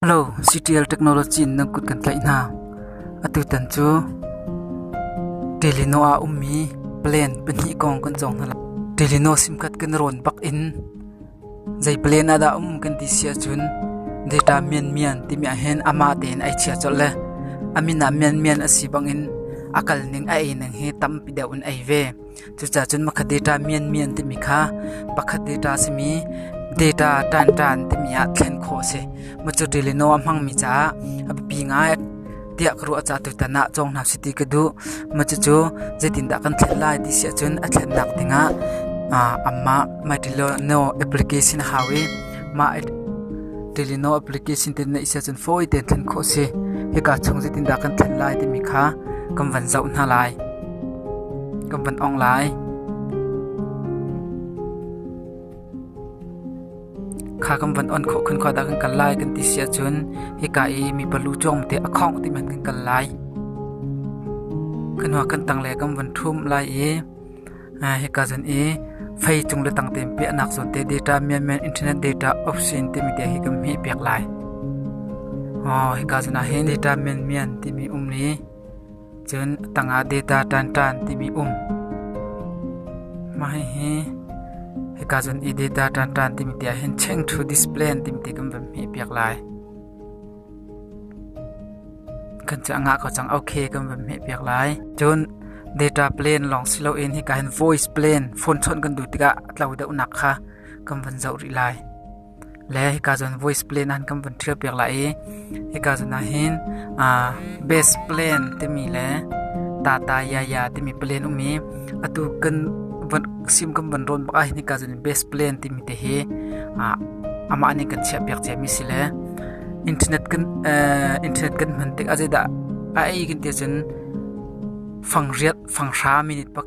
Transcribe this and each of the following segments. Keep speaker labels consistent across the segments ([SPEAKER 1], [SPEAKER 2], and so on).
[SPEAKER 1] Halo, CTL Technology in nan kut kan tlaih hna. Atutan cu Delino ah ummi plan pahnih kong kan cawng hna lo. Delino simkhat kan rawn bak in zei plan ah dah um kan ti sia cun data mian mian timi ahhin amah tein ai chia colh le amin ah mian mian asi bangin a kal ning a ei ning hi tampi deuh in ei ve. Cucaah cun pakhat data mianmian timi kha pakhat data a simi data ṭaanṭaan timi ah thlen khawh a si. Macu ṭilino a hmangmi caah a biapi ngai tiah ka ruah caah tutan ah cawng hna sih ti ka duh. Macu cu zeitindah kan thlen lai ti si ahcun a thlennak dingah amah MyTilino application a hau i mah Ṭilino application te na is ahcun fawi tein thlen khawh a si. Hika chung zeitindah kan thlen lai timi kha kan van zoh hna lai. Kan van ong lai. Kha kan van on khawh khun khua dah kan kal lai kan ti si ahcun hika i mipa lu cuang te a khawng ti man kan kal lai. Kan hua kan tang le kan van ṭhum lai i hika zan i fei cung le tang tein piahnak zawn te data Myanmar Internet Data Option timi te hi kan hmi pek lai. Oh, hika zan ah hin data Myanmar timi um li Cun a tangah data ṭanṭan timi um. Mah hihi hika cun i data ṭanṭan timi ti ahhin check to display timi ti kan van hmeh piak lai. Kan cu a ngah ko cang okay kan van hmeh piak lai. Cun data plan lawng si loin hika hin voice plan phone chawnh kan duh tikah a tlo deuhnak kha kan van zoh rih lai. le hika cun voice plan ah kan vun ṭhial piak lai i hika cun ah hin uh, base plan timi le tata yaya timi plan um i atu kan van sim kan van ron bak ah hin hika cun base plan timi te hi uh, amah nih kan chiah piak cia mi si le internet kan uh, internet kan hman tik a zeidah a ei kan ti cun fang riat fang hra minute pak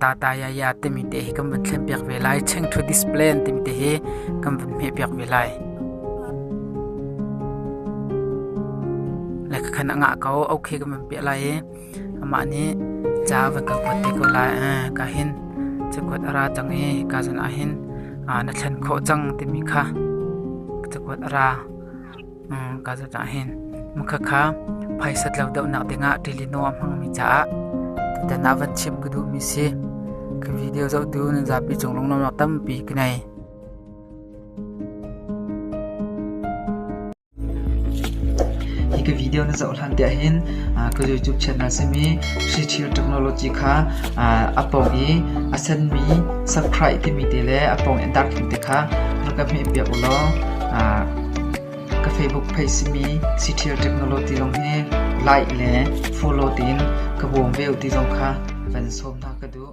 [SPEAKER 1] Tatayaya timi te hi kan vun thlenpiak ve lai. Chengthu display an timi te hi kan vun hmehpiak ve lai. Le khan a ngah ko, okay kan vun piah lai i amah nih ca van ka kuat te ko lai. Ka hin ca kuat a ra cang i ka zan ah hin na thlen khawh cang timi kha ca kuat a ra. ka za cah hin mukha kha phaisat lo dohnak dingah ṭilino a hmangmi caah tutan ah van chim ka duhmi si ka video zohtu nan zapi cung lungnuamnak tampi ka nei hi ka video na zoh hlan te hin ka youtube channel simi Sri Chill Technology kha a pong i a senmi subscribe timi te le a pong in dark te kha ka hmeh piak ulaw Ka Facebook page simi Citial Technology lawng hi like le follow tein ka bawm ve u ti zong kha van sawm hna ka duh.